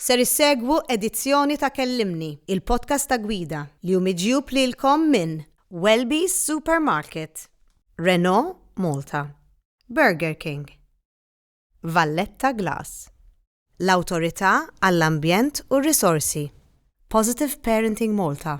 Ser issegwu edizzjoni ta' Kellimni, il-podcast ta' Gwida, li hu miġjub lilkom minn Welby's Supermarket, Renault Malta, Burger King, Valletta Glass, l-Awtorità għall-Ambjent u r-Risorsi, Positive Parenting Malta,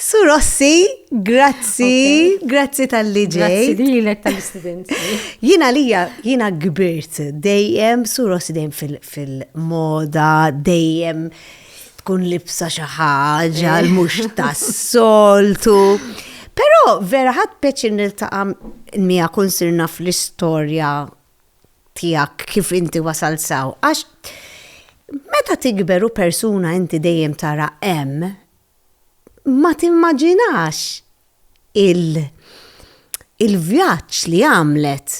Su Rossi, grazzi, grazzi tal-li ġej. Grazzi lilek tal-istudenzi. Jina lija, jina gbirt dejjem, Su Rossi dejjem fil-moda, dejjem tkun libsa xi ħaġa eh. mhux tas-soltu. Però vera ħadd peċin niltaqa' mija kun sirna fl-istorja tiegħek kif inti wasalt s'hawn għax meta tikber u persuna inti dejjem tara hemm ma timmaġinax il il-vjaġġ li għamlet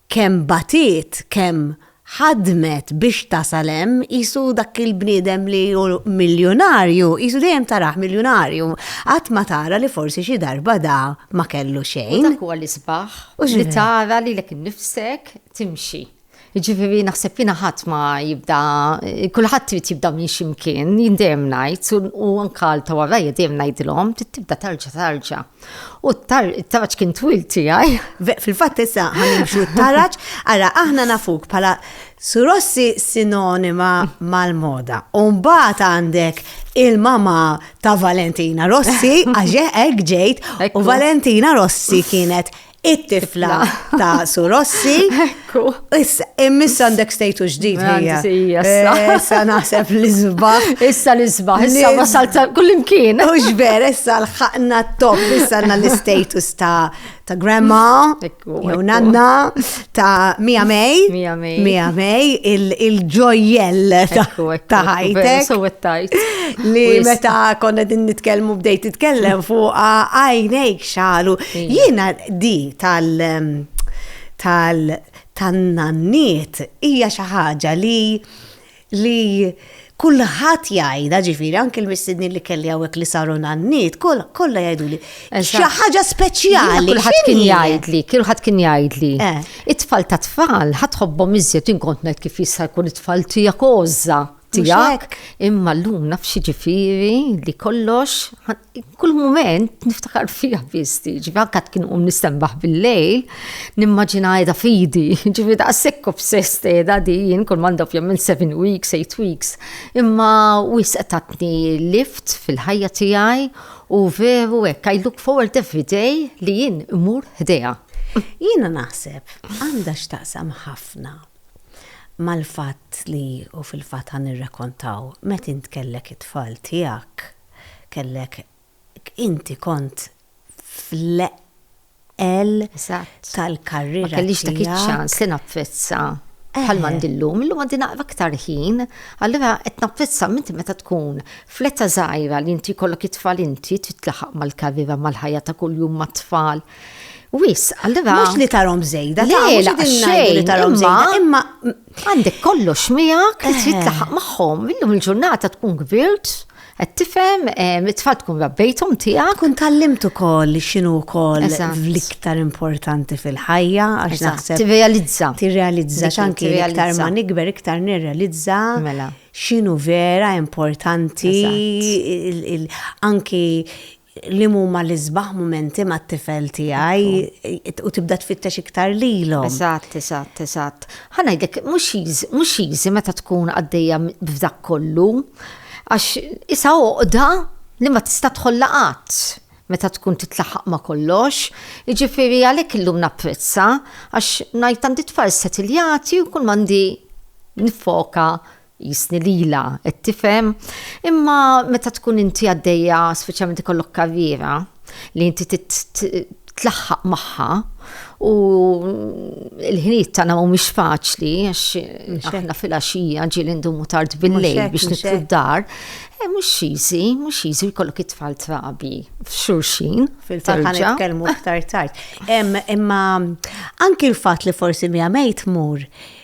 kemm batiet kemm ħadmet biex tasal hemm qisu dak il-bniedem li hu miljunarju qisu dejjem tarah miljunarju qatt ma tara li forsi xi darba da ma kellu xejn. U dak huwa l-isbaħ. U li tara li lek nifsek timxi. Ġifiri, naħseb jina ħadd ma jibda, kulħadd trid jibda minn ximkien, jindem najt, u anka l tawarra jidem najdilom, trid tibda tarġa tarġa. U t-taraġ kien twil tiegħi. Fil-fatt issa ħanimxu t-taraġ, ara aħna nafuk pala surossi sinonima mal-moda. Umbat għandek il-mama ta' Valentina Rossi, għaxe ek ġejt, u Valentina Rossi kienet it-tifla ta' Su Rossi. Ekku. Issa, immiss għandek stejtu ġdid hija. Eh, issa naħseb l-izbaħ. Issa l-izbaħ, issa wasal kullimkien. Ux vera, issa l-ħakna top, issa għanna l-status ta' ta' grandma, jew nanna, ta' Mia May, Mia May, il-ġojjell ta' ħajtek. Li meta konna din nitkellmu bdejt titkellem fuq għajnejk xalu. Jiena di tal tal tan-nanniet hija xi ħaġa li li kulħadd jgħidha ġifieri anke l-mistednin li kelli hawnhekk li saru nanniet kollha jgħiduli. Xi ħaġa speċjali. Kulħadd kien jgħidli, kulħadd kien jgħidli. Eh. It-tfal ta' tfal ħadd ħobbhom iżjed inkont ngħid kif jista' jkun it-tfal tiegħek ożża tiegħek. Imma llum naf xi ġifieri li kollox kull moment niftakar fija fisti, ġivi anka tkun um nistembaħ bil-lejl, nimmaġina għeda fidi, ġivi da' sekku f'sest għeda di, jien kull manda fjem minn 7 weeks, 8 weeks, imma u jisqtatni lift fil-ħajja tijaj u veru ek, I look forward every day li jien imur ħdeja. Jina naħseb, għanda xtaqsam ħafna mal-fat li u fil-fat għan nirrakontaw met intkellek it-tfal tijak kellek inti kont fl-eqel tal-karriera. Ma kellix dak iċ-ċans li napprezza bħal m'għandi llum, illum għandi naqra aktar ħin, allura qed napprezza minti meta tkun fl-età żgħira li inti jkollok it-tfal inti trid tlaħaq mal-karriera mal-ħajja ta' kuljum mat-tfal. Wisq, allura. Mhux li tarhom żejda, le, mhux li tarhom żejda, imma Għandek kollox miegħek li trid taħaq magħhom. Illum il-ġurnata tkun kbirt, qed tifhem, it-tfal tkun rabbejthom tiegħek. Kun tallimt ukoll li x'inhu wkoll l-iktar importanti fil-ħajja għax naħseb. Tirrealizza. Tirrealizza x'anki iktar ma nikber iktar nirrealizza. Mela. X'inhu vera importanti anki Li huma l-isbaħ mumenti mat-tifel tiegħi u tibda tfittex iktar lilhom. Eżatt, eżatt, eżatt. Ħa ngħidlek, mhux easy, mhux easy meta tkun għaddejja b'dak kollu, għax isha għoqda li ma tista' tħollha qatt meta tkun titlaħħaq ma' kollox. Jiġifieri għalhekk illum napprezza għax ngħid għandi tfal settiljati u kull m'għandi niffoka jistni lilha qed tifhem, imma meta tkun inti għaddejja speċjalment ikollok karriera li inti tlaħħaq magħha u l-ħinijiet tagħna mhumiex faċli għax aħna fil-għaxija ġieli ndumu tard bil-lejl biex nitlu d-dar. Eh, mhux easy, mhux easy jkollok it-tfal trabi f'xulxin. Fil-fatt nitkellmu iktar tard. Imma anki l-fatt li forsi mija mejt mur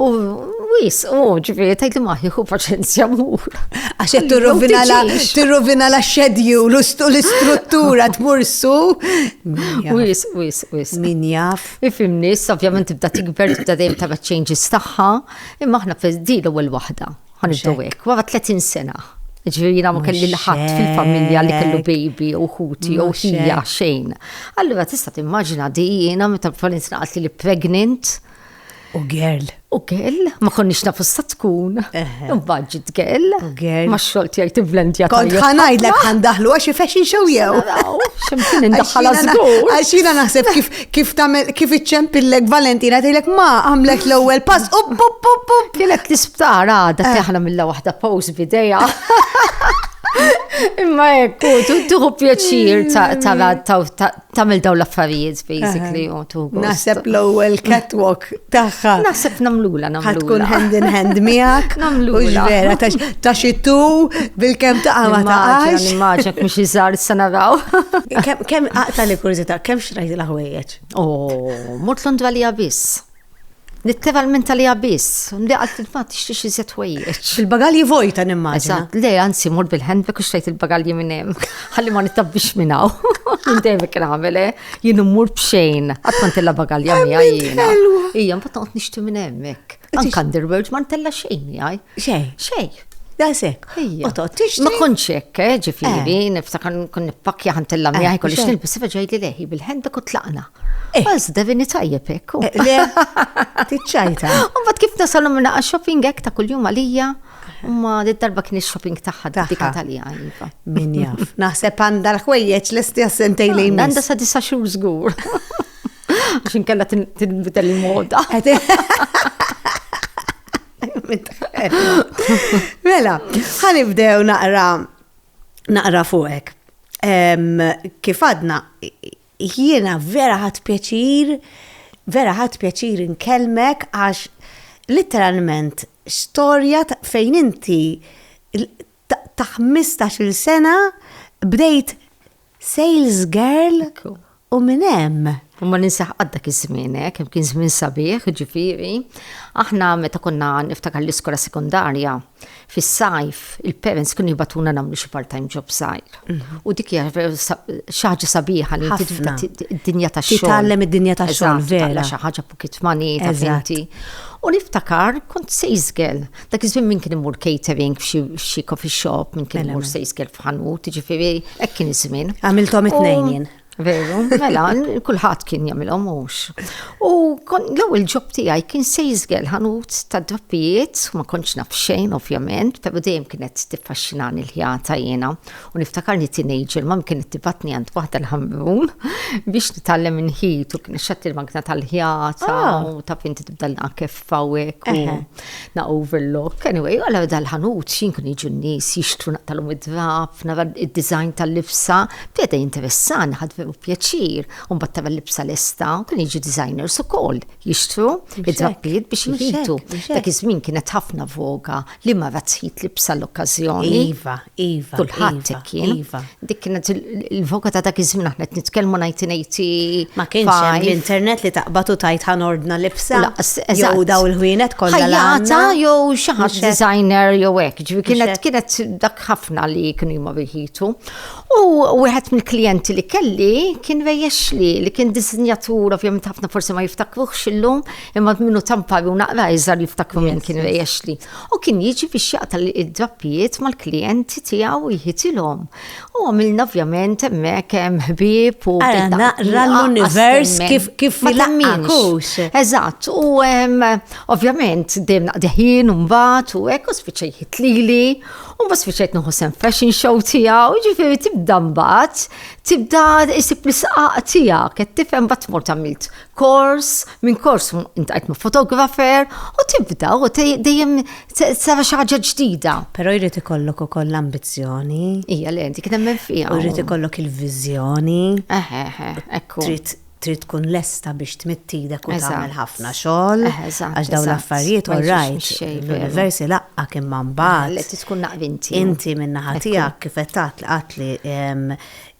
U wis, u ġifiri, tajt li maħi, u paċenzja mur. Għax jattu rovina la xedju, l-istruttura tmursu. Wis, wis, wis. Min jaf. Ifim nis, ovvjament tibda tikber, tibda dejjem ta' changes taħħa, imma ħna fil di l-ewwel waħda. Għan id-dowek, wara 30 sena. Ġviri jina ma kelli l-ħat fil-familja li kellu baby u ħuti u xija xejn. Allura tista' timmaġina di jina meta l-falinzna għatli li pregnant U girl. U girl, ma konniex nafu sa tkun. Imbagħad ġiet girl. U girl. Ma xogħol tiegħi tivlendja. Kont ħanajdlek ħandaħlu għax ifexxi xew jew. X'imkien indaħħal żgur. Għax jiena naħseb kif kif tagħmel kif iċċempillek Valentina tgħidlek ma għamlek l-ewwel pass u pup pup pup. Kienet l-isptar għadha eh. teħna mill waħda pose bidejja. Imma ekku, tuħu pjaċir ta' tamil daw l-affarijiet basically u tu. Naħseb l-ewwel catwalk tagħha. Naħseb namlula namlula. Ħad tkun hand in hand miegħek. Namlula. Ux vera ta' xittu bil-kemm ta' għama ta' għax. Nimmaġek mhux iżgħar issa naraw. Kemm aqta' li kurżità, kemm xrajt l-ħwejjeġ? Oh, mort Londra li biss. Nittevalmenta li għabis, li għalt il-fat tixtiex iżjed ħwejjeġ. Il-bagalji vojta nimmaġina. Eżatt, le anzi mur bil-handbag u xtrajt il-bagalji minn hemm. Ħalli ma nittabbix minn hawn. Minn dejjem kien għamel, eh? jien immur b'xejn. Qatt ma ntella bagalja miegħi jiena. Ija, mbagħad noqgħod nixti minn hemmhekk. Anke underwear ma ntella xejn miegħi. Xejn. Xejn. Daqshekk. Otot, tixtri. Ma kontx hekk, eh, ġifieri, eh. niftakar nkun nippakkja ħant il lamja eh, kollox nilbis iva ġejli leħi bil-ħendek u tlaqna. Eh. Bas devini tajjeb hekk. Le, tiċċajta. Mbagħad kif nasalhom minn shopping hekk ta' kuljum għalija. Ma d-darba kien il-shopping taħħa dik Italija. Iva. Min jaf. Naħseb għandha l-ħwejjeġ l-esti għassentej li jmiss. Għandha sa' disa xhur żgur. Għaxin kella tinbidel il-moda. Mela, ħanibdew naqra naqra fuqek. Kif għadna, jiena vera ħat pjaċir, vera ħat pjaċir nkelmek għax literalment storja fejn inti ta' 15-il sena bdejt sales girl u minn hemm. Ma ninsaħ għaddak iż-żmien, eh, kemm kien żmien sabiħ, ġifieri. Aħna meta konna niftakar l-iskola sekundarja, fis-sajf il-parents kienu jibatuna nagħmlu xi part-time job sajr. Mhm. U dik hija xi ħaġa sabiħa li id-dinja tax-xogħol. Titgħallem id-dinja tax-xogħol vera. Xi ħaġa pocket money ta' U niftakar kont sales girl. Dak iż-żmien min kien imur catering f'xi coffee shop, min kien mela, imur mela. se jiskel f'ħanut, ġifieri hekk kien iż-żmien. Għamilthom it-tnejn jien. Veru, mela, kulħadd kien jagħmilhom mhux. U l-ewwel ġob tiegħi kien se jiżgel ħanut ta' drappijiet, ma kontx naf xejn ovvjament, però dejjem kienet tiffaxxinani l-ħjata jiena. U niftakarni teenager ma kienet tibatni għand waħda l-ħamrun biex nitgħallem inħit u kien xatt il-magna tal-ħjata ah. u ta' finti tibda l kif fawek u na overlook. Anyway, għala dal-ħanut xinkun iġu n-nis jixtru naqtalum id-drab, nara id-design tal-libsa, bjeda jinteressan, ħad veru pjaċir, un battara l-libsa l-esta, kun iġu designers u koll jixtru id-drabbiet biex jħitu. Dak iż-żmien kienet ħafna voga Liema razzjit li bsa l-okkażjoni. Iva, iva. Kulħadd hekk kien. Iva. Dik kienet il-voka ta' dak iż-żmien aħna qed nitkellmu ngħid ngħid. Ma kienx l-internet li taqbatu tajt ħanordna libsa. Jew daw il-ħwienet kollha. Ħajjata jew xi ħadd designer jew hekk. Ġifi kienet kienet dak ħafna li kienu jmorru jħitu. U wieħed mill-klijenti li kelli kien rejjex li li kien disinjatur ovvjament ħafna forsi ma jiftakruhx illum Imma minnu tampari u naqra iżar jiftakru minn kien rejexli. U kien jiġi biex jaqta id-drappijiet mal-klijenti tiegħu jħitilhom. U għamilna ovvjament hemmhekk hemm ħbieb u. Naqra l-univers kif kif lammix. Eżatt, u ovvjament dejjem naqdeħin u mbagħad u hekk u spiċċa jħitlili u bas fiċet nuħu sem fashion show tijaw, ġifiri tibda mbat, tibda isib l-isqaq tijak, qed tifhem bat mort għamilt kors, minn kors intajt ma' fotografer u tibda u dejjem sara xi ħaġa ġdida. Però jrid ikollok ukoll l-ambizzjoni. Ija li inti kien hemm fija. U jrid ikollok il-viżjoni. Eħe, eħe, ekku. Trid tkun lesta biex tmittidek u tagħmel ħafna xogħol. Għax dawn l-affarijiet u rajt. L-universi laqqa kien man bad. Li tkun naqvinti. Inti minna ħatijak kifetat li qatli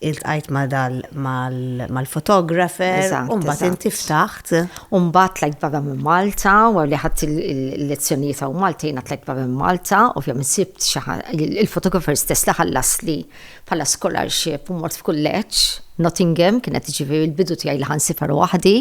iltqajt ma' dal mal-photographer, u mbagħad inti ftaħt. U mbagħad tlajt barra minn Malta, wara li ħadt il-lezzjonijiet hawn Malta jiena tlajt barra minn Malta, ovvjament sibt xi il-photographer stess li ħallasli bħala scholarship u mort f'kulleġġ, Nottingham, kienet ġifieri l-bidu tiegħi li ħa nsifar waħdi.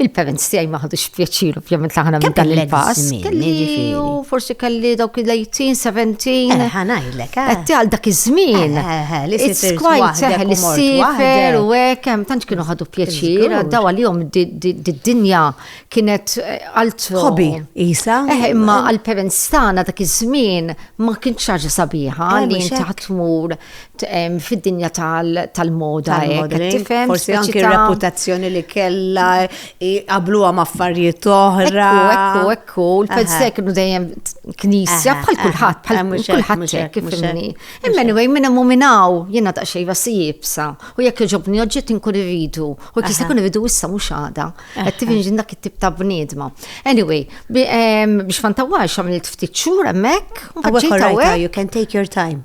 Il-parents tiegħi ma ħadux pjaċir ovvjament laħna minn dan il-pass. Kelli u forsi kelli dawk il-18, 17. Eh, ħanajlek. Eh. Qed għal dak iż-żmien. Eh, It's quite seħel li sifer u hekk hemm tantx kienu ħadu pjaċir, daw għalihom d-dinja kienet altro. Hobby isa. Imma għall-parents tagħna dak iż-żmien ma kienx ħaġa sabiħa li inti ħatmur fid-dinja tal-moda tal-modeling, forsi anke reputazzjoni li kella qabluha ma' affarijiet oħra. Ekku, ekku, l-fedse kienu dejjem knisja bħal kulħadd, bħal kulħadd hekk fimni. Imma anyway, minn hemm minnaw jiena ta' xejba si jibsa u jekk iġobni oġġett inkun irridu u kif ikun irridu issa mhux għada. Qed tifhimx dak it-tip ta' bniedma. Anyway, biex ma ntawwalx għamilt ftit xhur hemmhekk. Awek, awek, you can take your time.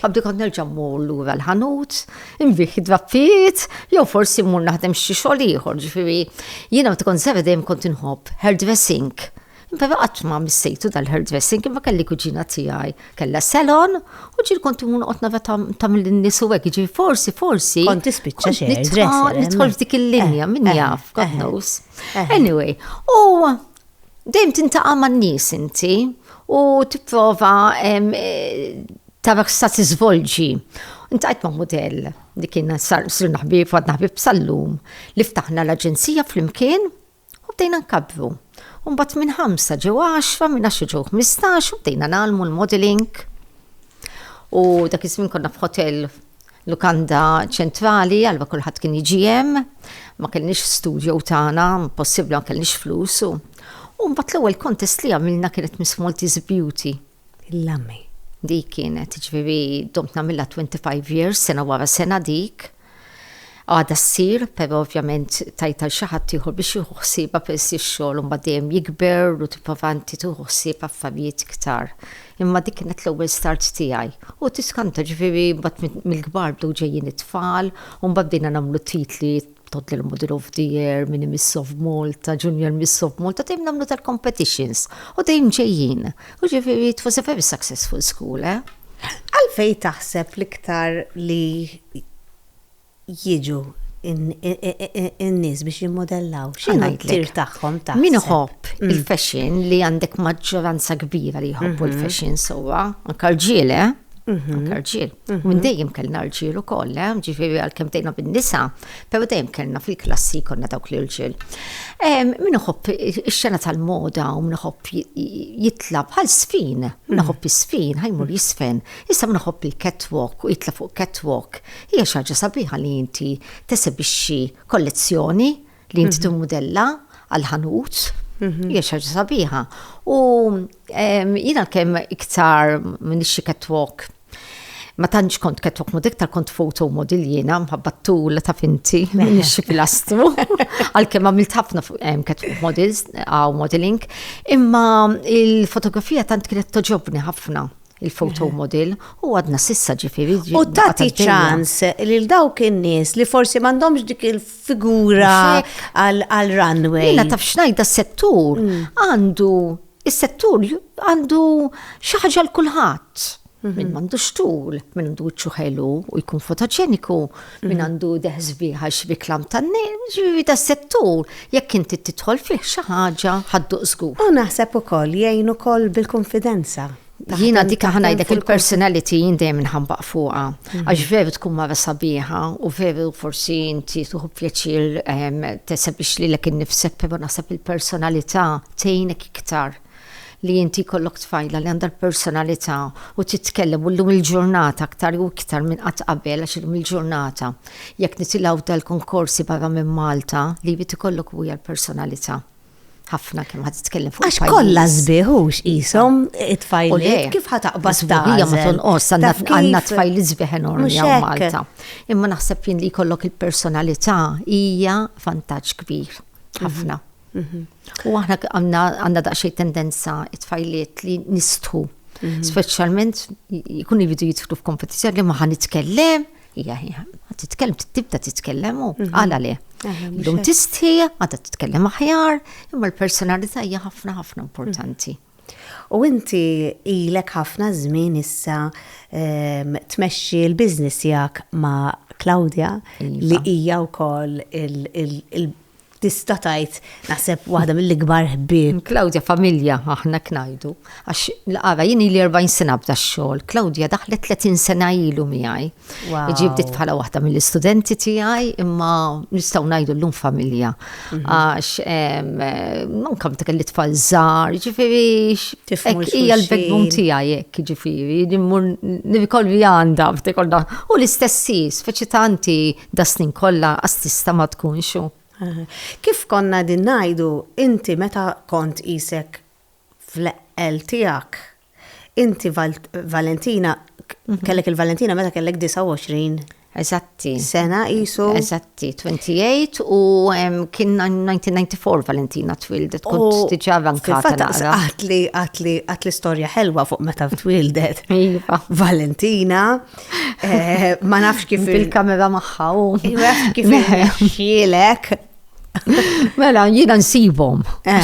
Qabdi kont nerġa' mmur lura l-ħanut, inbih id-drappijiet, jew forsi mmur naħdem xi xogħol ieħor, ġifieri jiena meta kont żgħira dejjem kont inħobb hairdressing. Però qatt ma missejtu dal-hairdressing imma kelli kuġina tiegħi kellha salon u ġieli kont imur noqgħod nara tagħmel in-nies u hekk, jiġifieri forsi forsi. Kont tispiċċa xi hairdresser. Nidħol f'dik il-linja, min jaf, God knows. Anyway, u Dejjem tintaqa' man-nies inti u tipprova tara x'sa tiżvolġi. Intajt ma' mudell li kien sirna ħbieb għadna ħbieb sal-lum li ftaħna l-aġenzija flimkien u bdejna nkabbru. U mbagħad minn ħamsa ġew għaxra, minn għaxra ġew ħmistax u bdejna nagħlmu l-modeling. U dak iż-żmien konna f'ħotell Lukanda ċentrali, allura kulħadd kien jiġi hemm. Ma kellniex f'studjo tagħna, impossibbli ma kellniex flus u u mbagħad l-ewwel kontest li għamilna kienet Miss Maltese Beauty. Il-Lami. Dik kienet, ġifieri domt nagħmilha 25 years, sena wara sena dik. Għadha ssir, però ovvjament tajt għal xi ħadd ieħor biex jieħu ħsiebha peress li x-xogħol mbagħad dejjem jikber u tipprova inti tieħu ħsieb affarijiet iktar Imma dik kienet l-ewwel start tiegħi u tiskanta ġifieri mbagħad mill-kbar bdew ġejjin it-tfal u mbagħad bdejna nagħmlu titli, Toddler Model of the Year, Mini Miss of Malta, Junior Miss of Malta, dejjem nagħmlu tal-competitions u dejjem ġejjin. U ġifieri it was a very successful school, eh. Għalfejn taħseb l-iktar li jiġu n-nies biex jimmodellaw? X'inhu t-tir tagħhom taħseb? Min iħobb mm. il-fashion li għandek maġġoranza kbira li jħobbu mhm. l-fashion sewwa, anke rġiel, eh? Mhm. Anke rġiel. Mhm. Minn dejjem kellna rġiel ukoll, eh? ġifieri għalkemm tgħidna bin-nisa, però dejjem kellna fil-klassi konna dawk li rġiel. Min iħobb ix-xena tal-moda u min iħobb jitla bħal sfin, min iħobb is-sfin ħajmur jisfen. Issa min iħobb il-catwalk u jitla' fuq catwalk, hija xi ħaġa sabiħa li inti tesebixxi kollezzjoni li inti timmudella għal ħanut. Hija xi ħaġa sabiħa. U jiena kemm iktar minix xi catwalk ma tantx kont ketwok mod iktar kont foto model jiena mħabba tul ta' finti xi pilastru. Għalkemm għamilt ħafna ketwok models għaw modeling, imma il-fotografija tant kienet toġobni ħafna. il-photo model u għadna sissa ġifiri. U tati ċans li l-dawk in-nies li forsi m'għandhomx dik il-figura għal-runway. Jena taf xnajda s-settur mm. għandu, il-settur għandu xaħġa l-kulħat. Mhm. Min mandu xtul, min għandu ċuħelu u jkun fotoġeniku, min għandu deħ sbieħ għax biklam tanni, ġivi da settur, jekk inti titħol fih xi ħaġa ħaddu żgur. U naħseb ukoll jgħin ukoll bil-konfidenza. Jina dika ħanajdek il-personality jindem nħambaq fuqa. Mhm. Għax veru tkun mara sabiħa u veru forsi inti tuħu pjaċir ehm, tesab biex li l-ek nifsek pero naħseb il-personalità tejnek iktar. li inti jkollok tfajla li għandha l-personalità u titkellem u llum il-ġurnata aktar u iktar minn qatt qabel għax illum il-ġurnata jekk nitilgħu dal-konkorsi barra minn Malta li jrid ikollok huja l-personalità ħafna kemm ħad titkellem fuq. Għax kollha żbieħux qishom it-tfajliet kif ħad taqbad żbieħija ma tonqos għandna tfajli żbieħ enormi hawn Malta. Imma naħseb jien li jkollok il-personalità hija vantaġġ kbir ħafna. Mhm. U aħna għandna daqsxejn tendenza it-tfajliet li nistħu. Mhm. Speċjalment jkun jridu jidħlu f'kompetizzjoni li ma ħan nitkellem, hija hija, titkellem tibda titkellem u mhm. għala le. Lum tistħi, għadha titkellem aħjar, imma l-personalità hija ħafna ħafna importanti. Mhm. U inti ilek ħafna żmien issa ehm, tmexxi l-biznis jak ma' Claudia iva. li hija wkoll il- tista' tgħid naħseb waħda mill-ikbar ħbieb. Klawdja familja aħna knajdu. Għax l-qara jien li 40 sena bda xogħol, Klawdja daħlet 30 sena ilu miegħi. Ġi bdiet bħala waħda mill-istudenti tiegħi imma nistgħu ngħidu llum familja. Mhm. Għax manka meta kelli tfal żgħar, ġifieri hija l-backbone tiegħi hekk ġifieri, nirkolvi għandha f'tekolda. U l-istessi, speċi tanti Das-snin kollha qas tista' ma tkunx hu. Kif konna qegħdin ngħidu, inti meta kont qisek fl-eqqel tiegħek, inti Valentina, kellek il-Valentina meta kellek 29. Eżatti. Sena qisu. Eżatti, 28 u kien 1994 Valentina twildet, kont diġà vankata naqra. Għatli, għatli, għatli storja ħelwa fuq meta twildet. Iva. Valentina. Eh, ma nafx kif. Il-kamera maħħa u. kif xielek. Mela, jina nsibom. Eh.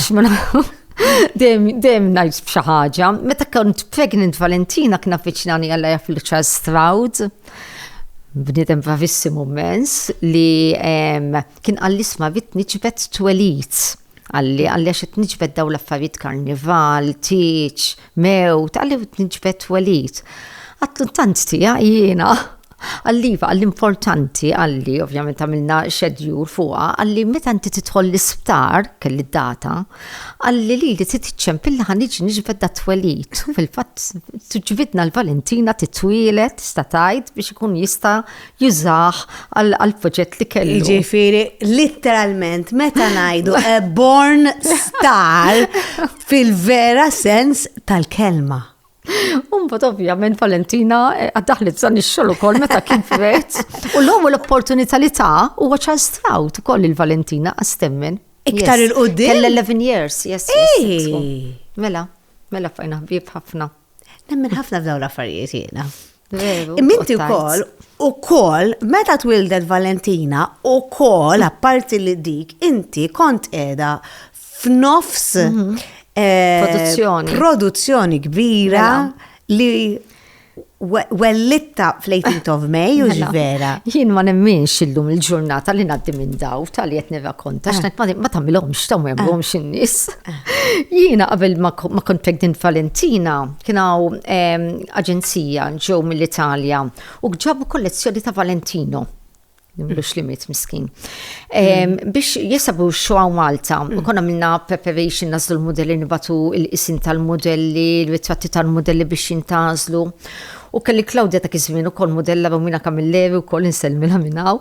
Dem najt b'xi ħaġa. Meta kont pregnant Valentina kna fiċnani għalla jaf il-ċar Stroud. Bnidem bravissimu mens li kien għall-isma vitni ċibet twelit. Qalli, Qalli għax qed niġbed dawn l-affarijiet karnival, tieġ, mewt, qalli qed niġbed twelid. Għadtlu tant tiegħi jiena. Qalli iva, qalli importanti, qalli, ovvjament għamilna xedjur fuqha, qalli meta inti tidħol l-isptar, kelli d-data, qalli li li titċem billi ħan iġi niġbed da twelid. Fil-fatt, ġbidna l-Valentina titwielet, tista' tgħid, biex ikun jista' jużah għall-proġett li kellu. Jiġifieri litteralment meta ngħidu a born star fil-vera sens tal-kelma. Umbat ovvjament Valentina eh, għaddaħlet san ix-xogħol ukoll meta kien fret. U l-ewwel l-opportunità li ta' huwa Charles Strout ukoll il-Valentina għastemmen. Iktar il-qudiem? L-11 years, yes. Mela, mela fajna ħbieb ħafna. Nemmen ħafna f'dawn l-affarijiet jiena. Veru. Imminti wkoll ukoll meta twildet Valentina ukoll apparti li dik inti kont qiegħda f'nofs mhm. eh, produzzjoni. Produzzjoni kbira mela. li wellitta fl-18 of May, u mela, vera. Jien ma nemminx illum il-ġurnata li naddi minn daw tal-li jett neva konta, eh. xnet ma tamilomx, tamilomx eh. in-nis. Eh. Jiena qabel ma kont pregnant Valentina, Kien hawn ehm, aġenzija ġew mill-Italja u ġabu kollezzjoni ta' Valentino nimlux li mit miskin. Biex jisabu xoħaw Malta, u konna minna preparation nazlu l-modelli nibatu il-isin tal-modelli, il-ritratti tal-modelli biex jintazlu. U kelli Claudia ta' kizmin u kol modella Romina Camilleri u kol insel minna minnaw.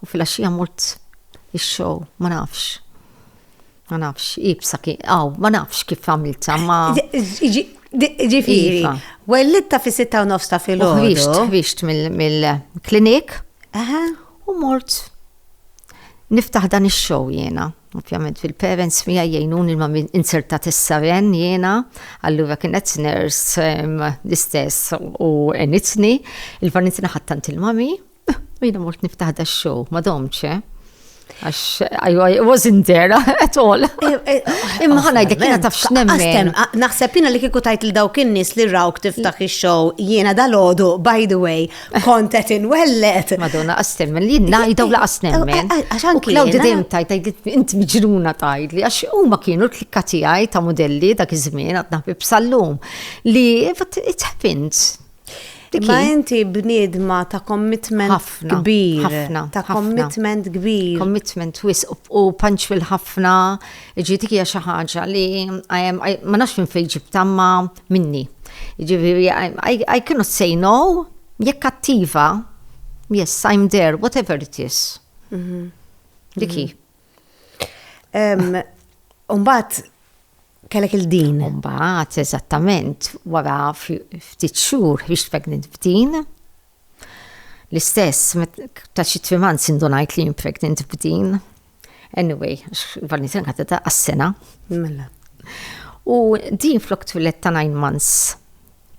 U fil-axija mort il-show, ma nafx. Ma nafx, ibsa ki, aw, ma nafx kif għamilta, ma. Ġifiri, iva. wellitta fi sitta u nofsta fil-ħodu. Ħriġt, ħriġt mill-klinik. U mort. Niftaħ dan il-show jena. Ovvjament fil-parents mija jgħinun il-ma insertat il-saren jena, allura kienet nurse l-istess u enitni, il-vanitni ħattant il-mami, U jina mort niftaħ da show, ma domċ, eh? Għax, ajwa, it wasn't there at all. Eh, eh, eh, Imma ħana jdek jina taf xnemmen. Ah, naħseb jina li kiku tajt l-dawk in-nis li rawk tiftaħ il-show jina dal-ħodu, by the way, kontet in wellet. Madonna, għastem, li najdaw la għastem. Għaxan kien. Law d-dem tajt, int mġruna tajt li għax u ma kienu l-klikka tijaj ta' modelli dak iż-żmien għadna bibsallum li it happens. Imma inti bniedma ta' commitment kbir. Ħafna. Ta' commitment kbir. Commitment wis u punctual ħafna. Ġieti hija xi ħaġa li ma nafx minn fejn ġibta ma minni. Ġifieri I cannot say no jekk attiva. Yes, I'm there, whatever it is. Mhm. Dik hi. Umbagħad kellek il-din. U mbagħad eżattament wara ftit xhur biex pregnant b'din. L-istess, ta' xi trim months indunajt li jien pregnant b'din. Anyway, għax il kanta ta' għas-sena. Mela. U din flok twilet ta' 9 months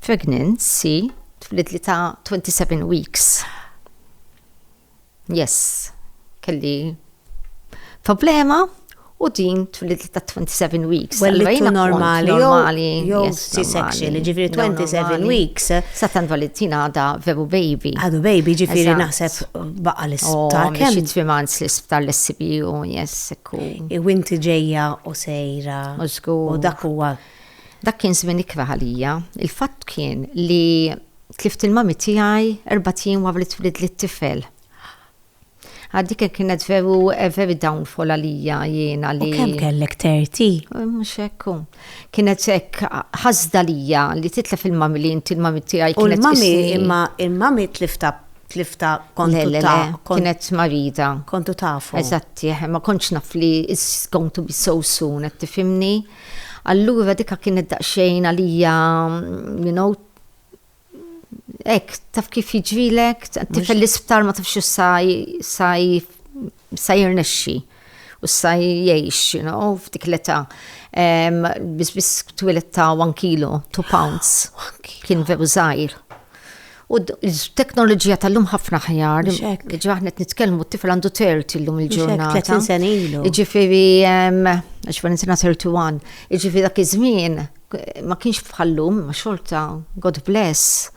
pregnancy, twilet li ta' 27 weeks. Yes, kelli problema u din twilit ta' 27 weeks. Well, li normali, normali, jew C-section, ġifiri 27 weeks. Satan Valentina għada veru baby. Għadu baby, ġifiri naħseb baqa l-isptar. Oh, Kem xie trimans l-isptar l-SBU, yes, sekku. Iwinti ġeja u sejra. U dak huwa. Dak kien żmien ikra ħalija. Il-fatt kien li Tlift il-mummy tiegħi erbat jiem wara li twilidli t-tifel. Għad dik kienet veru a very downfall għalija jiena li. U kemm kellek 30? Mhux hekk hu. Kienet hekk ħasda lija li titlef il-mummy li inti l-mummy tiegħi kienet. U l-mummy imma il-mummy tlifta tlifta kontu ta' kienet marida. Kontu tafu. Eżatti, ma kontx naf li is going to be so soon qed tifhimni. Allura dika kienet daqsxejn għalija you know Ek, taf kif jiġrilek, tifel l-isptar ma tafx sa jirnexxi u sa jgħix, you know, f'dik l-età. Bis bis twilet ta' 1 kilo, 2 pounds, kien veru zaħir. U l-teknoloġija tal-lum ħafna ħjar, ġaħnet nitkelmu t-tifel għandu 30 l-lum il-ġurnata. 30 sen ilu. Iġifiri, ġifiri, 31, iġifiri dak iż-żmien, ma kienx bħallum, ma xorta, God bless,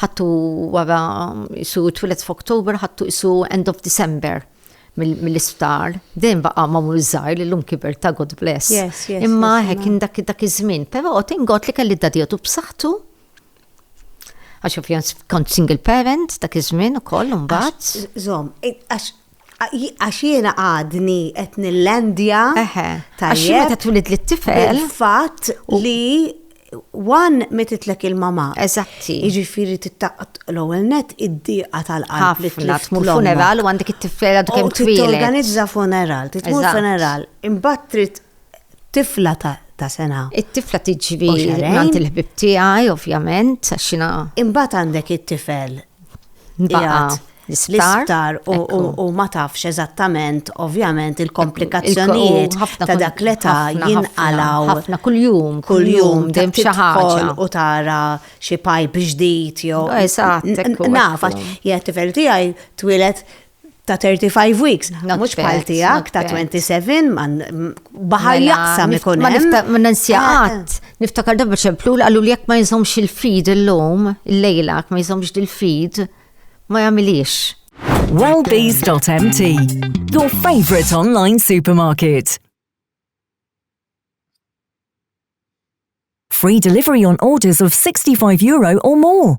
ħattu wara isu twilet f'October ħattu isu end of December mill-isptar, dejjem baqa' ma' mur żgħir li llum kiber ta' God bless. Imma hekk kien dak iż-żmien, però tingod li kelli dadjatu b'saħħtu għax ovvjament kont single parent dak iż-żmien ukoll imbagħad. Żomm, għax Għax jiena għadni qed nillandja. Eħe. Għax jiena qed twilidli t-tifel. Il-fatt li Wan metitlek il-mama. Eżatti. Iġifiri tittaqt l-ewwel net id-diqa tal-qalb li tlift funeral u għandek it-tifla dwar kemm twil. Organizza funeral, titmur funeral, imbagħad trid tifla ta' sena. It-tifla tiġri għand il-ħbib tiegħi, ovvjament, għax Imbagħad għandek it-tifel Baqat l-isptar u ma tafx eżattament, ovvjament, il-komplikazzjonijiet ta' dak li ta' jinqalaw. Ħafna kull-jum, kull-jum, dem xaħġa. U tara xie pajp ġdijt, jo. Eżatt, nafax. Jgħat tifel tijaj twilet ta' 35 weeks, mhux bħal tiegħek ta' 27 man baħar mela, jaqsam ikun hemm. Ma ninsjaqat, eh, eh. niftakar dabba ċemplu li qalu li jekk ma jinżomx il-feed illum, il-lejla ma jinżomx il-feed, ma jagħmilix. Wellbees.mt Your favorite online supermarket. Free delivery on orders of 65 euro or more.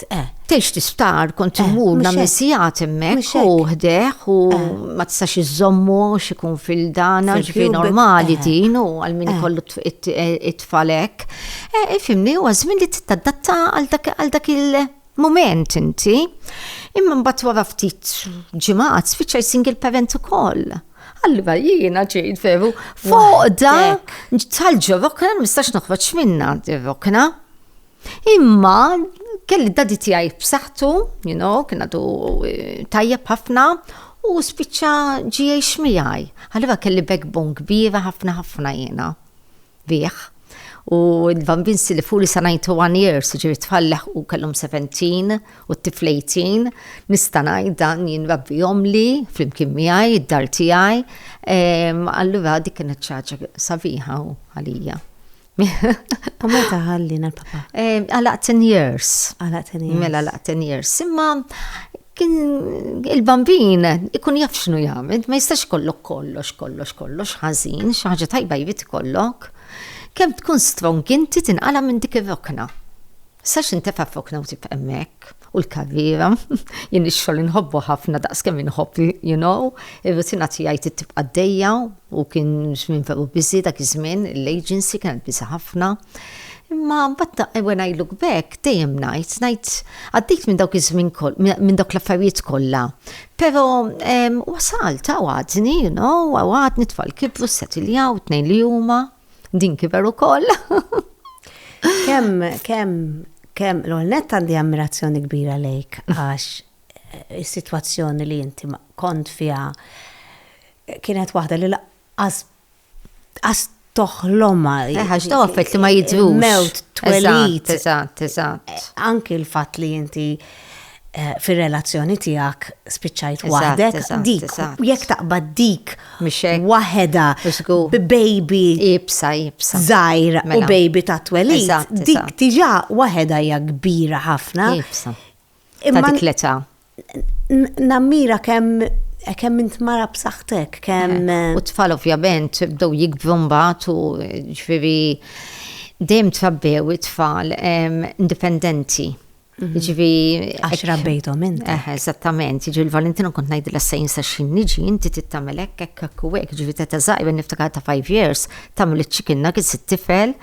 Eżatt, eh. Tgħix tisptar, kont eh, immur nagħmel eh. sigħat hemmhekk u ħdeh u eh. ma tistax iżommu x'ikun fil-dana ġifi normali din u għal min ikollu it-tfal hekk. Ifimni huwa żmien li titadatta għal dak il- moment inti, imma mbagħad wara ftit ġimgħat spiċċa single parent ukoll. Allura jiena ġejt veru foqda tal-ġorokna mistax noħroġ minna ġorokna. Imma kelli d-dadi tiegħi b'saħħtu, you know, kien għadu eh, tajjeb ħafna u spiċċa GH miegħi. Għalliva kelli backbone kbira ħafna ħafna jiena. Bih. U l-bambin li fuli sa 91 years, ġiri tfalleħ u kellhom 17 u t-tiflejtin, nista' ngħid dan jien rabbi jomli flimkien miegħi, id-dar tiegħi. Allura dik kienet ċaġa sabiħa għalija. U meta ħallina l-papa? Eh, għala 10 years. Għala 10 years. Mela għala 10 years. Imma kien il-bambin ikun jaf x'nu jagħmel, ma jistax kollok kollox, kollox, kollox ħażin, xi ħaġa tajba jrid ikollok. Kemm tkun strong inti tinqala minn dik ir-rokna. Sax intefa' fokna u tibqa' hemmhekk u l-karriera, jien ix-xogħol inħobbu ħafna daqs kemm inħobb, you know, ir-rutina tiegħi tibqa' dejja U kien żmien veru busy dak iż-żmien, l-agency kienet busy ħafna. Imma mbagħad when I look back, dejjem ngħid, ngħid għaddejt minn dawk iż-żmien minn dawk l-affarijiet kollha, però wasalt, hawn għadni, you know, hawn għadni, t-tfal kibru, ssetiljaw, it-tnejn li huma, din kiber ukoll. Kemm, kemm, kemm, l-ewwel nett għandi ammirazzjoni kbira lejk għax is-sitwazzjoni li inti kont fiha kienet waħda li laqqas qas toħlomha. Eħax daw affett li ma jidrux. Mewt twelid. Eżatt, eżatt. Eh, anki l-fatt li inti eh, fir-relazzjoni tiegħek spiċċajt waħdek dik jekk taqbad dik waħedha baby ibsa ibsa żgħir u mela. baby ta' twelid dik diġà waħedha hija kbira ħafna. Ibsa. ta' dik l-età. Nammira kemm kemm int mara b'saħħtek, kemm. Eh, u tfal ovvjament bdew jikbru mbagħad u ġifieri dejjem trabbew it-tfal ehm, indipendenti. Mhm. Ġivi. Għax rabbejtom int. Eh, eżattament, ġivi l-Valentina kont najd l-assajn sa xin niġi, inti tittamel ekk, ekk, ekk, u ekk, ġivi ta' ta' zaħir, niftakar ta' 5 years, tamil il-ċikinna, kien sit tifel,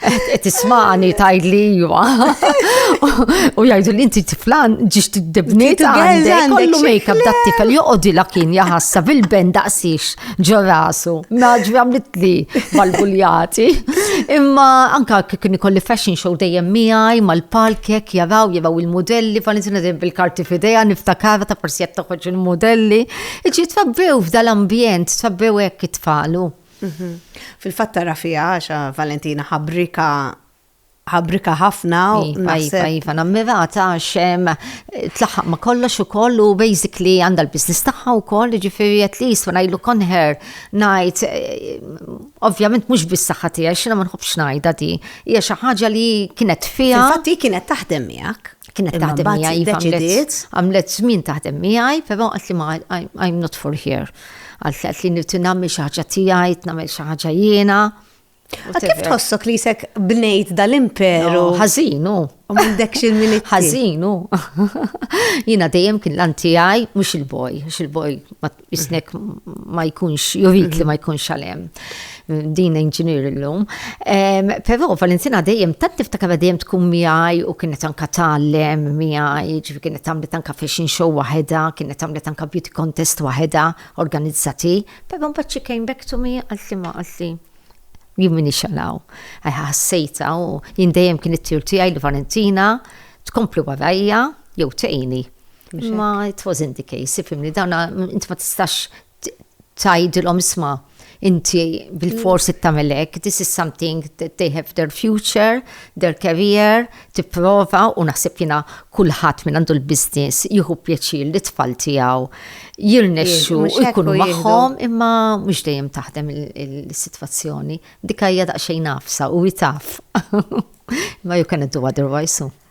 Qed tismani tgħidli iva. U jgħidu li inti tiflan ġiex tiddibniet għandek kollu make-up dat tifel joqgħodi la kien jaħassa bil-ben daqsix ġo rasu. Naġri għamlitli mal-buljati. Imma anka kien ikolli fashion show dejjem miegħi mal-palkek jaraw jaraw il-modelli Valentina dejjem bil-karti f'idejha niftakara ta' forsi qed toħroġ il-modelli. Iġi tfabbew f'dal-ambjent, tfabbew hekk it-tfalu. Fil-fatt tara fiha għax Valentina ħabrika ħabrika ħafna u iva, iva, naħseb. Iva, nammirata għax tlaħħaq ma kollox ukoll u basically għandha l-business tagħha wkoll, ġifieri at least when I look on her ngħid eh, ovvjament mhux bis-saħħa tiegħi x'ina ma nħobbx ngħidha di. Hija xi ħaġa li kienet fiha. Infatti kienet taħdem miegħek. kienet taħdem miegħi deċidiet. Għamlet żmien taħdem miegħi, però qed li ma I'm not for here. Għalt qed li nirti nagħmel xi ħaġa tiegħi, nagħmel xi ħaġa jiena. Kif tħossok li jisek bnejt dal-imperu? Ħażinu. U m'għandekx il-milit. Ħażinu. Jiena dejjem kien l-antijaj, mhux il-boj, mhux il-boj jisnek ma jkunx, jurik li ma jkunx għalem. Din inġinier l-lum. Pero Valentina dejjem, tant niftakar dejjem tkun miħaj u kienet anka tal-lem miħaj, ġifi kienet tamlet anka fashion show waheda, kienet tamlet anka beauty contest waheda organizzati. Pero mbaċi came back to me għalti ma għalti. Jien minni xalaw. Għassejta u jien dejjem kienet tirti għaj li Valentina tkompli warajja jew tejni. Ma it wasn't the case, ifimni, dawna inti ma tistax tajdilom isma' inti bil-fors mm. it-tamelek, this is something that they have their future, their career, tipprova u naħseb jina kullħat minn għandu l-biznis jieħu pjaċir li tfal tiegħu jirnexxu jkunu magħhom imma mhux dejjem taħdem il-sitwazzjoni. Dikajja daqsxejn nafsa u jitaf. Ma you cannot do otherwise.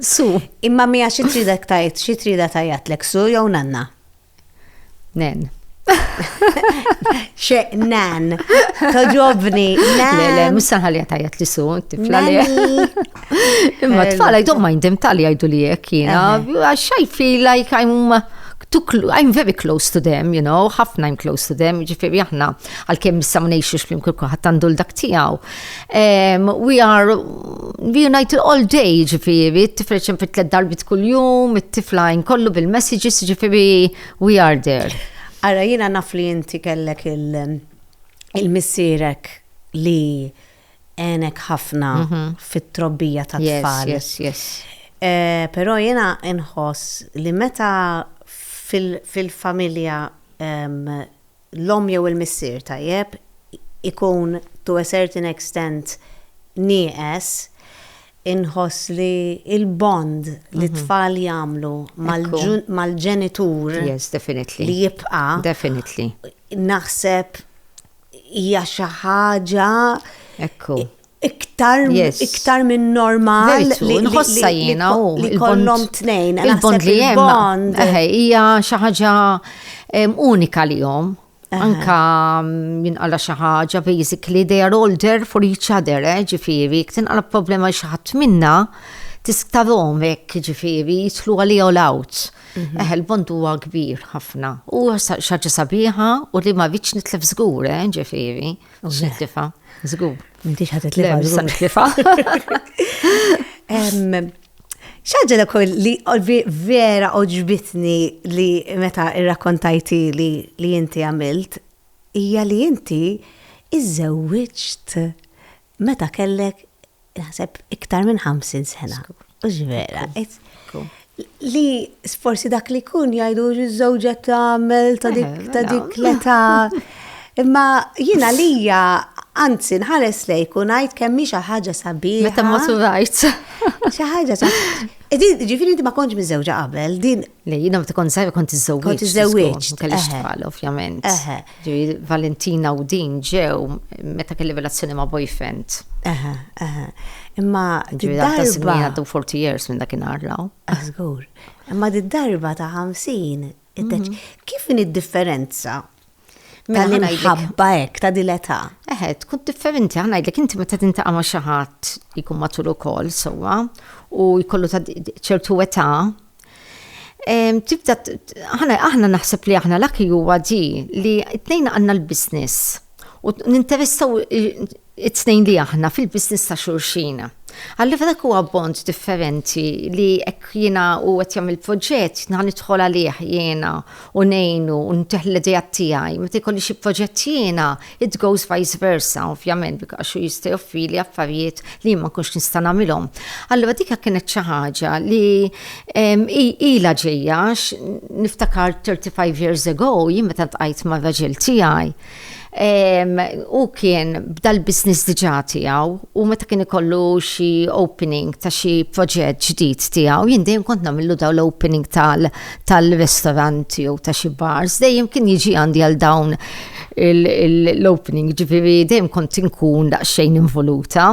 Su. Imma mija xi tridek tajt, xi trida tajjatlek su jew nanna? Nen. Xe nan, toġobni, nan. Le, le, mux sanħalja tajat li su, tifla li. Imma tfala, I don't mind them tal jajdu li jek jina. I feel like I'm too I'm very close to them, you know, ħafna I'm close to them, ġifiri aħna, għal-kem nissamnejxu xlim kulku ħattandu l-dak tijaw. Um, we are reunited all day, ġifiri, t-tifel xem fit tlet darbit kull-jum, t-tifla kollu bil-messages, ġifiri, we are there. Ara, jina naf li jinti kellek il-missirek li enek ħafna mhm. fit-trobbija ta' tfal. Yes, yes, yes. Eh, Pero jina nħoss li meta fil-familja l-omm jew il-missier, tajjeb, ikun to a certain extent nieqes, inħoss li l-bond li t-tfal jagħmlu mal-ġenitur li jibqa', naħseb hija xi ħaġa iktar yes. iktar minn normal li nħossa jiena u li kollhom tnejn. Il-bond li hemm hija xi ħaġa unika li jom. Anka jinqala xi ħaġa basically they are all there for each other, eh, ġifieri, jekk tinqala problema xi ħadd minna tisktarhom hekk ġifieri jitlu għalija u l-out. Mhm. Eh, il-bond huwa kbir ħafna. U xaġa sabiħa u li ma viċ nitlef żgur, eh, ġifieri. U se tifa, żgur. M'intix ħadd itlifa, żgur nitlifa. Xaġa l li vera oġbitni li meta irrakkontajti li li inti għamilt, hija li inti iżżewwiġt meta kellek naħseb iktar minn 50 sena. U ġvera, li forsi dak li kun jajdu ż-żewġa tagħmel ta' dik eh, ta' dik l-età. Imma jina lija anzi nħares lejk u ngħid kemm hi xi ħaġa sabiħa. Meta ma surajt. Xi ħaġa Ġifieri inti ma kontx miżewġa qabel, din Le, jina ma tkun zaħir kont iżżewġ. Kont iżżewġ. Kelli xtqal, ovvjament. Ġiri, Valentina u din ġew meta kelli relazzjoni ma' boyfriend. Eħe, eħe. Imma. Ġiri, għadda sinni għaddu 40 years minn dak inarlaw. Għazgur. Imma di darba ta' 50, mhm. kif in id-differenza Mela, ħa ngħidlek- Tal-imħabba hekk ta' dil-età. Eħe, tkun differenti, għan għajdlek, inti meta tintaqa ma xaħat li jkun matul ukoll, sowa, u jkollu ta' di- ċertu età, em, tibda, t- t- aħna, aħna naħseb li aħna l-aki huwa di li t-tnejn għanna l-biznis u t- ninteressaw i- it-tnejn li aħna fil-business ta' xulxin. Allura dak huwa bond differenti li hekk jiena hu qed jagħmel proġett ħa nidħol għalih jiena u ngħinu u ntih l-ideat tiegħi. Meta jkolli xi proġett jiena, it goes vice versa ovvjament għax hu jista' joffrili affarijiet li jien ma nkunx nista' nagħmilhom. Allura dik kienet xi ħaġa li ilha ġejja għax niftakar thirty five years ago jien meta ltqajt mar-raġel tiegħi, Hu kien bda l-business diġà tiegħu u meta kien ikollu xi opening ta' xi proġett ġdid tiegħu, jien dejjem kont nagħmillu dawn l-opening tal tal-restaurant jew ta' xi bars, dejjem kien jiġi għandi għal dawn l-opening, jiġifieri dejjem kont inkun daqsxejn involuta.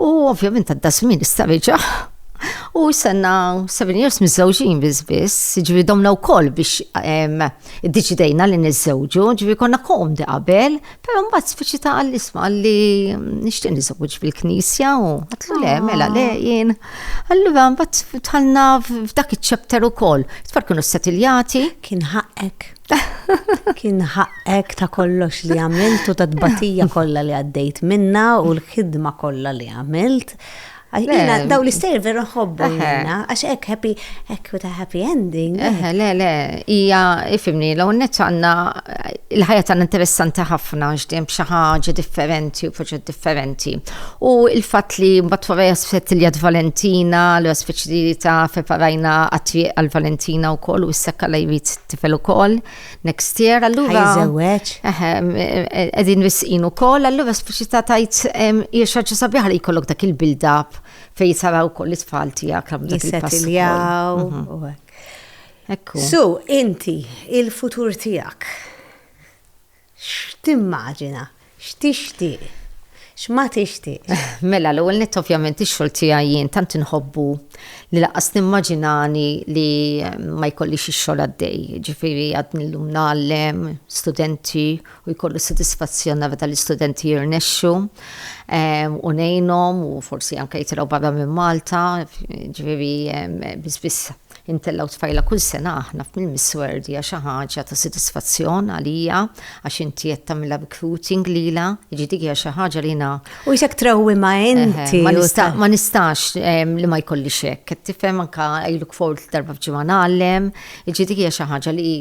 U ovvjament għadda żmien issa reġa' u s-senna 7 years miżżewġin biss biss, ġifieri domna wkoll biex iddeċidejna li niżżewġu, ġifieri konna komdi qabel, però mbagħad speċi ta' qal isma' li nixtieq niżżewweġ fil-Knisja u għatlu le mela le jien. Allura mbagħad dħalna f'dak iċ-chapter ukoll. Tfal kienu settiljati. Kien ħaqqek. Kien ħaqqek ta' kollox li għamilt u ta' tbatija kollha li għaddejt minna u l-ħidma kollha li għamilt. Għajna, daw li sejr vera nħobbu għajna, għax ek happy, ek with a happy ending. Eħe, le, le, ija, ifimni, l għonnet għanna, il-ħajja għanna interessanti ħafna, ġdem xaħġa differenti u proġett differenti. U il-fat li mbatt wara jasfet li għad Valentina, l-għasfet li ta' feparajna għatri għal-Valentina u koll u s-sekka la jrid tifel ukoll next year allura. Ħajżewweġ. Eħe, qegħdin risqin ukoll allura speċità tajt hija xi ħaġa sabiħa li jkollok dak il-build up fejn saraw ukoll it-tfal tiegħek għam dak il-pass. Mhm. Ekku. So, inti, il-futur tiegħek. X'timmaġina? X'tixtieq? X'ma tixtieqx? Mela, l-ewwel nett ovvjament ix-xogħol tiegħi jien tant inħobbu li lanqas nimmaġinani li ma jkollix ix-xogħol għaddej. Jiġifieri għadni llum ngħallem studenti u jkollu s-sodisfazzjon nara tal-istudenti jirnexxu u ngħinhom u forsi anke jitilgħu barra minn Malta. Jiġifieri biss biss Intellgħu tfajla kull sena aħna mill-Miss World hija xi ħaġa ta' sodisfazzjon għalija għax inti qed tagħmilha recruiting lilha, jiġi dik hija xi ħaġa li jiena. U jisek trewwimha inti. Ma nistax li ma jkollix hekk, qed tifhem anke iluk fort darba f'ġimgħa ngħallem, jiġi dik hija xi ħaġa li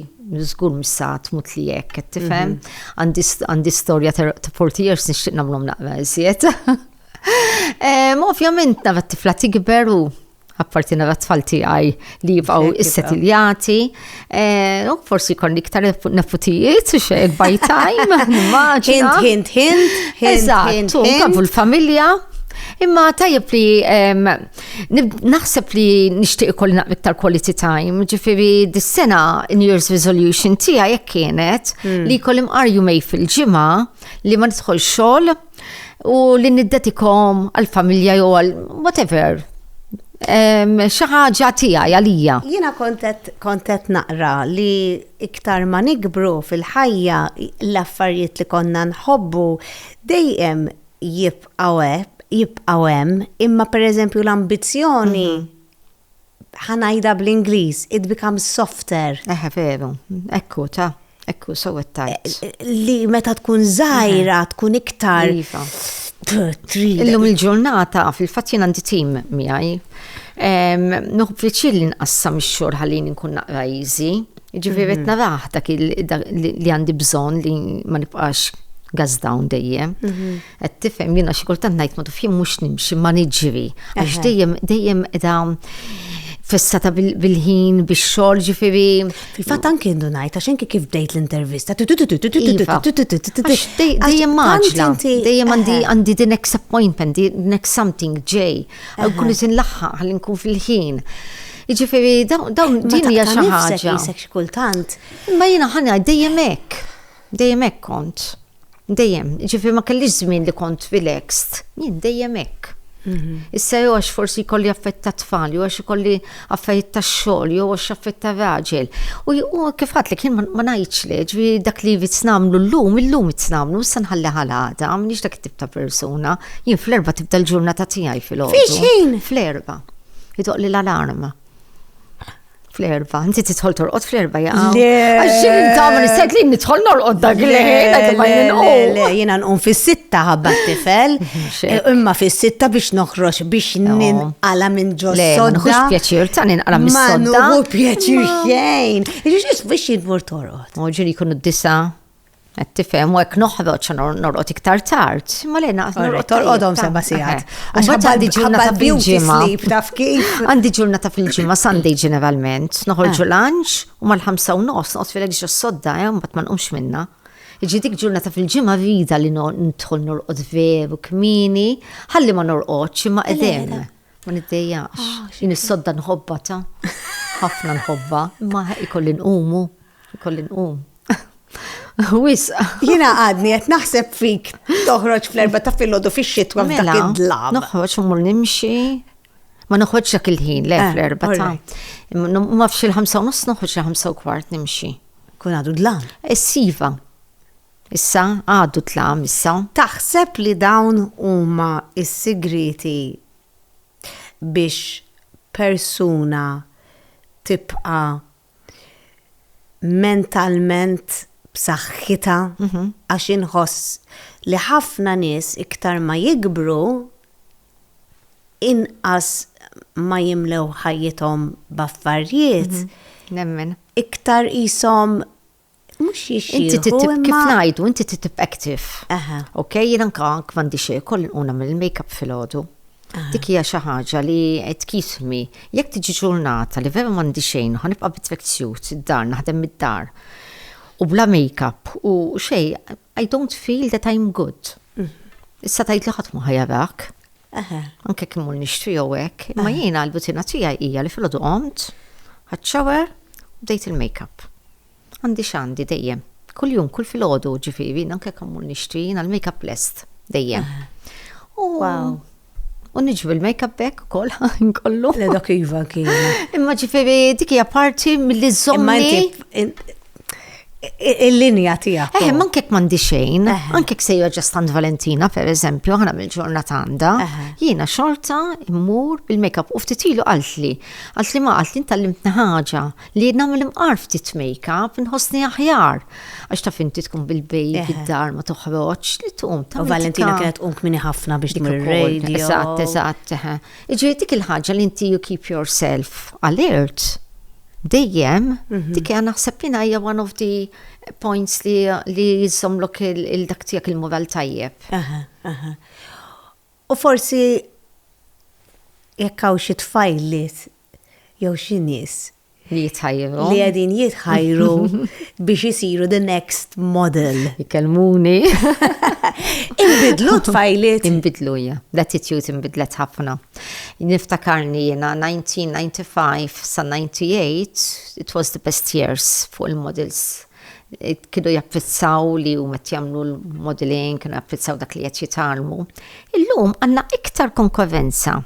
żgur mhux sa tmut li hekk, qed tifhem. Għandi storja ta' 40 years nixtieq nagħmlhom naqra iżjed. Ovvjament nara t-tifla tikber u apparti nara t-tfal tiegħi li jibqgħu issetiljati. Eh, u forsi jkollni iktar nefutijiet u xe by time, immaġina. Hint, hint, hint. Eżatt, u l-familja. Imma tajjeb li naħseb li nixtieq ikolli naqmi iktar quality time, ġifieri dis-sena in year's resolution tiegħi jekk kienet hmm. li jkolli mqar jumej fil-ġimgħa li ma nidħol xogħol u li niddetikom għal-familja jew għal whatever. Xi ħaġa tiegħi għalija. Jiena kontet kontet naqra li iktar ma nikbru fil-ħajja l-affarijiet li konna nħobbu dejjem jibqgħu jibqgħu hemm, imma pereżempju l-ambizzjoni mhm. ħa ngħidha bl-Ingliż, it becomes softer. Eħe veru, ekku ta, ekku so it tight. Eh, eh, li meta tkun żgħira tkun iktar. Iva. Illum il-ġurnata fil-fatt jien għandi tim miegħi. Nuħb fiċil li nqassam ix-xogħol ħalli nkun naqra easy. Ġifieri mhm. naraħ dak li għandi bżonn li ma nibqax gas down dejjem. Mhm. Qed tifhem jiena xi kultant ngħid ma tafx mhux nimxi ma niġri għax dejjem dejjem qiegħda fissata bil-ħin bix-xogħol ġifieri. Fil-fatt anke ndu ngħid għax inki kif bdejt l-intervista. Dejjem maġla. Dejjem għandi għandi the next appointment, the next something ġej. Kulli sin laħħaq ħalli nkun fil-ħin. Ġifieri dawn din hija xi ħaġa. kultant. Ma jiena ħana dejjem hekk. Dejjem hekk kont. Dejjem, ġifi ma kellix żmien li kont relaxed, jien dejjem hekk. Mhm. Issa jew għax forsi jkolli affett ta' tfal, jew għax ikolli affarijiet ta' xogħol, jew għax affett ta' raġel. U kif għatlek jien ma ngħidx le, ġifi dak li jrid nagħmlu llum, illum irid nagħmlu, issa nħalli ħal għada, m'iniex dak it-tip ta' persuna. Jien fl-erba' tibda l-ġurnata tiegħi fil-għodu. Fix-xejn? Fl-erba'. Idoq li l-alarm. Fl-erba, inti titħol torqod fl-erba jaqa. Għaxin intama nisset li nitħol norqod dak li Le, jena nqum fis-sitta ħabba t-tifel, eh, imma fis-sitta biex noħroġ biex ninqala minn ġo sodda. Nħux pjaċir ta' ninqala minn sodda. Ma pjaċir xejn. Iġiġis biex jidmur torqod. Moġin jkunu d-disa. Qed tifhem u hekk noħroġ norqod iktar tard, imma lejna qas norqod. Torqodhom seba' sigħat. Għax għandi ġurnata fil-ġimgħa. Taf kif? Għandi ġurnata fil-ġimgħa Sunday ġeneralment, noħorġu eh. lunch u mal-ħamsa u nofs noqgħod fil-ġġ sodda, eh, mbagħad ma nqumx minna. Iġi dik ġurnata fil-ġimgħa rida li nidħol norqod veru kmini, ħalli ma norqodx imma qedem. Ma niddejjaqx. Ah, Jien is-sodda nħobba ta' ħafna nħobba, imma ikolli nqumu, ikolli nqum. Wis. Jina għadni qed naħseb fik toħroġ fl-erba ta' filgħodu fix-xitwa f'dak mela, id-dlam. Noħroġ u nimxi. Ma noħroġ dak il-ħin le eh, fl-erba ta'. Ma fx il-ħamsa u nofs noħroġ il-ħamsa u kwart nimxi. Kun għadu dlam. Essiva. Issa, għadu tlam issa. Taħseb li dawn huma s-sigrieti biex persuna tibqa' mentalment b'saħħitha? Għax inħoss li ħafna nies iktar ma jikbru, inqas ma jimlew ħajjithom b'affarjiet, iktar qishom Mux jixxieħu. Inti titib, kif najdu, inti titib active. Aha. Ok, jina nka kmandi xie, koll nquna mill-makeup fil-ħodu. Dik hija xi ħaġa li qed kismi. Jekk tiġi ġurnata li vera m'għandi xejn, ħanibqa' bit-tracksuit id-dar, naħdem mid-dar. U bla makeup u xej, I don't feel that I'm good. Issa tgħid li ħadd mhu ħa jarak. Anke jekk immur nixtri jew hekk, imma jiena l-butina tiegħi hija li filgħodu qomt, ħadd shower, u bdejt il-makeup. Għandi x'għandi dejjem. Kuljum, kull filgħodu, ġifieri, anke jekk immur nixtri, jiena l-makeup lest dejjem. U U niġu il-makeup back ukoll ħin kollu. Le dak iva kien. Imma ġifieri dik hija parti milli żommni. Il-linja tiegħek. Eh, ma nkek m'għandi xejn, ankek sejja ġastant Valentina per eżempju, ħana mill-ġurnata għandha, jiena xorta immur bil-makeup u ftit ilu qaltli. Qaltli ma qaltli ntallimtni ħaġa. Li nagħmel imqar ftit make-up nħossni aħjar. Għax taf inti tkun bil-bejb id-dar ma toħroġ li tqum ta' Valentina kienet tqum kmini ħafna biex dik ir-radio. Eżatt, eżatt. Iġri dik il-ħaġa li inti you keep yourself alert dejjem, mhm. dik għan naħseb jina hija one of the points li li jizzomlok il-dak tiegħek il-moral tajjeb. U forsi jekk hawn xi tfajl li jew xi nies Li jitħajru. li qegħdin jitħajru biex isiru the next model. Ikellmuni. Inbidlu tfajliet. Inbidlu hija. L-attitude inbidlet ħafna. Niftakarni jiena 1995 sa 98 it was the best years fuq il-models kienu japprezzaw li u met jamlu l-modeling, kienu japprezzaw dak li jett jitalmu. Illum għanna iktar konkurrenza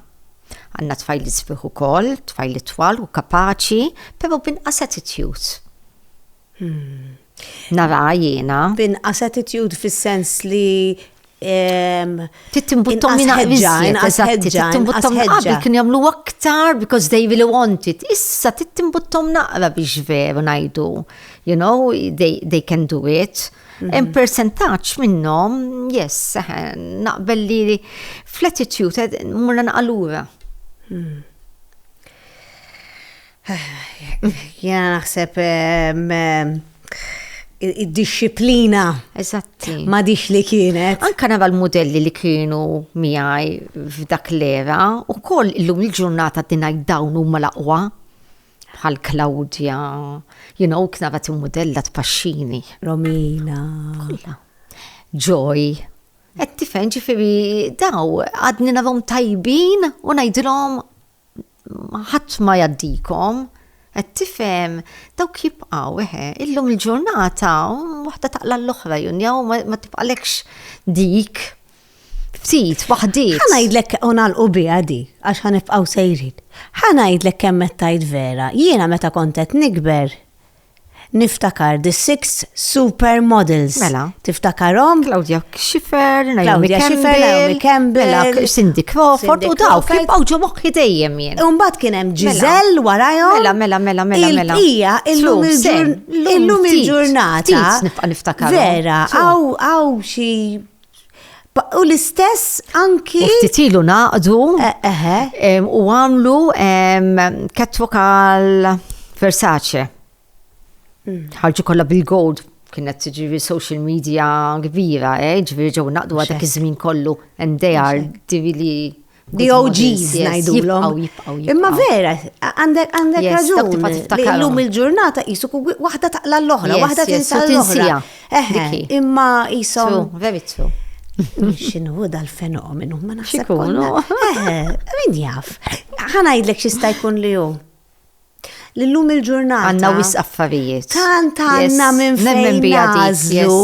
Għandna tfajliet sbieħ ukoll, tfajliet twal u kapaċi, però binqas attitude. Hmm. Nara jiena. Binqas attitude fis-sens li Tittimbuttom minna ħedġa, tittimbuttom qabel kien jamlu aktar because they really want it. Issa tittimbuttom naqra biex veru najdu, you know, they, they can do it. Hemm mhm. persentaġġ minnhom, yes, naqbel li fl-attitude eh, murna naqalura. Mhm. Jena naħseb id-disciplina. Eżatti. Ma dix li kienet. Anka nara l-modelli li kienu miħaj f'dak l-era u koll illum il-ġurnata dinaj dawn u mal-aqwa. bħal Claudia, you know, kien għabat modella tpaxxini. Romina. Kolla. Joy. Et tifen ġifiri daw, għadni navom tajbin u najdilom ħadd ma jaddikom. Et tifem, daw jibqaw, eħe, illum il-ġurnata, waħda taqla l-oħra, junjaw, ma tibqalekx dik. Ftit, waħdiet. Ħa ngħidlek u nagħlqu biha di, għax ħa nibqgħu sejrin. Ħa ngħidlek kemm qed tgħid vera, jiena meta kont qed nikber niftakar the six supermodels. Mela. Tiftakarom? Claudia Schiffer, Naomi Campbell, Naomi Campbell, Cindy Crawford u daw kif bawġu moħħi dejjem jien. Umbat kien hemm mela. Giselle warajhom. Mela, mela, mela, mela, mela. Ija, illum il-ġurnata. Vera, għaw xi U l-istess anki. U ftit ilu naqdu. U għamlu catwalk għal Versace. Mm. Ħarġu kollha bil-gold kienet ġivi social media kbira, eh? ġivi ġew naqdu għadak iż-żmien kollu, and they are divili. DOGs ngħidulhom. Imma vera, għandek għandek raġun. Illum il-ġurnata qisu waħda taqla l-oħra, waħda tinsa l-oħra. Imma qisu. Very true. Xinu dal-fenomenu, ma naħseb. Xikunu. Min jaf. Ħanajdlek xista jkun li hu. l-lum il-ġurnata. Għanna wis affarijiet. Tant għanna minn fejn nażlu.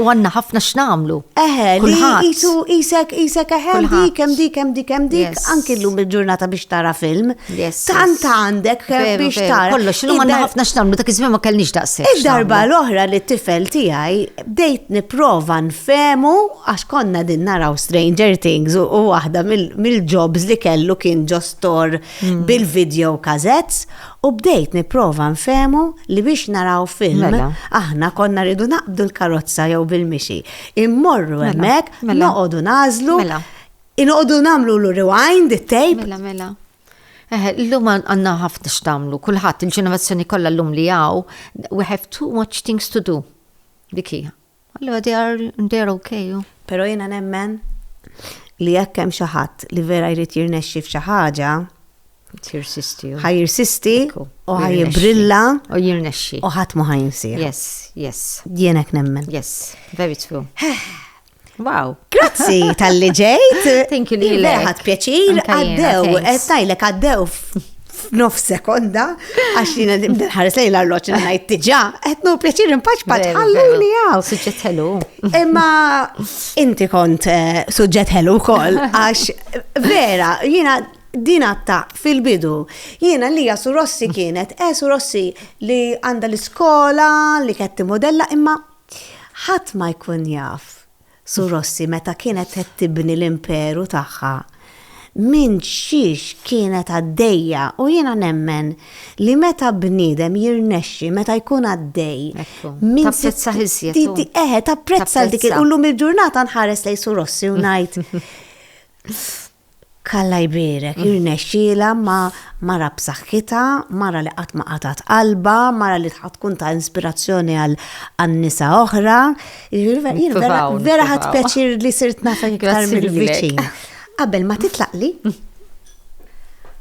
U għanna ħafna x'namlu. Eħe, li jisu isek isek eħe, dik hemm dik hemm dik hemm dik, anki l-lum il-ġurnata biex tara film. Tant għandek biex tara. Kollox, illum għanna ħafna x'namlu, dak iż-żmien ma kellniex daqshekk. Id-darba l-oħra li t-tifel tiegħi bdejt nipprova nfemu għax konna din naraw Stranger Things u waħda mill-jobs li kellu kien ġostor bil-video cassettes u bdejt nipprova nfehmu li biex naraw film mela. aħna konna rridu naqbdu l-karozza jew bil-mixi. Immorru mela. hemmhekk mela. noqogħdu nażlu. Mela. Inqogħdu nagħmlu l rewind it-tape. Mela mela. Eh, l-lum għanna ħafna xtamlu, kullħat il-ġenerazzjoni kollha l-lum li għaw, we have too much things to do. Dikija. Allora they are, they are okay. Oh. Pero jena nemmen li jekk hemm xi ħadd li vera jrid jirnexxi f'xi ħaġa, Tirsisti. Ħaj jirsisti u ħaj jibrilla. U jirnexxi. U ħadd ma ħajnsir. Yes, yes. Jienek nemmen. Yes, very true. Wow. Grazzi tal-li ġejt. Thank you li. Leħat pjaċir, għaddew, estajlek għaddew f'nof sekonda, għax li nadim ħares lejn l-arloċ li najt tiġa, għetnu pjaċir impaċ pat ħalluni għaw. Suġġet ħelu. Imma inti kont eh, suġġet ħelu kol, għax vera, jina dina ta' fil-bidu. Jiena li jasu Rossi kienet, esu eh, Rossi li għanda l-iskola, li ketti modella, imma ħat ma jkun jaf Sur Rossi meta kienet qed tibni l-imperu tagħha minn xiex kienet għaddejja u jiena nemmen li meta bniedem jirnexxi meta jkun għaddej minn tapprezza ħiżjed. Eħe, tapprezza dik u llum il-ġurnata nħares lej Sur Rossi u ngħid Alla jbierek, irnexxielha ma' mara b'saħħitha, mara li qatt ma qatgħet qalbha, mara li ħa tkun ta' inspirazzjoni għal nisa oħra. Jiġifieri jien vera vera ħadt pjaċir li sirt nafek iktar mill-viċin. Qabel ma titlaqli,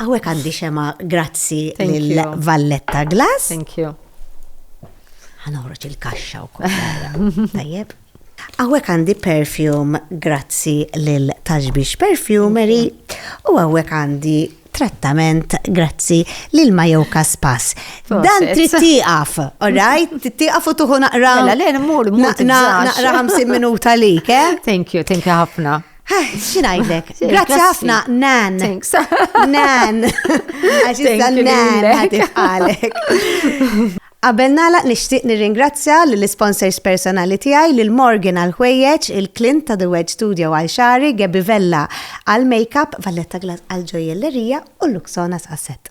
hawnhekk għandi xemgħa grazzi lil Valletta Glass. Thank you. Ħa noħroġ il-kaxxa wkoll. Tajjeb. Hawnhekk għandi perfume grazzi lil Tashbish Perfumery u hawnhekk għandi trattament grazzi lil Majoka Spas. Dan trid tieqaf, alright? Trid tieqaf u tuħu naqra. Mela, le, mmur, mmur. Naqra 50 minuta lik, eh? Thank you, thank you ħafna. Eh, Xinajdlek, grazzi ħafna, nan. Thanks. Nan. Għaxi nan, għatif għalek. Qabel nagħlaq nixtieq nirringrazzja lill-isponsors personali tiegħi, lil Morgan għall-ħwejjeġ, il Clint ta' The Wedge Studio għal xagħri, Gabby Vella għall-makeup, Valletta Glass għall-ġojjellerija u Luxonas għas-set.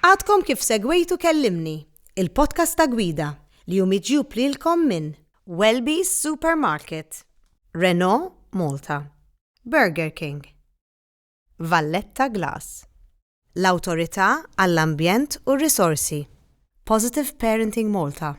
Għadkom kif segwejtu Kellimni, il-podcast ta' Gwida li hu miġjub lilkom minn Welby's Supermarket, Renault Malta, Burger King, Valletta Glass, l-Awtorità għall-Ambjent u r-Risorsi, Positive Parenting Malta,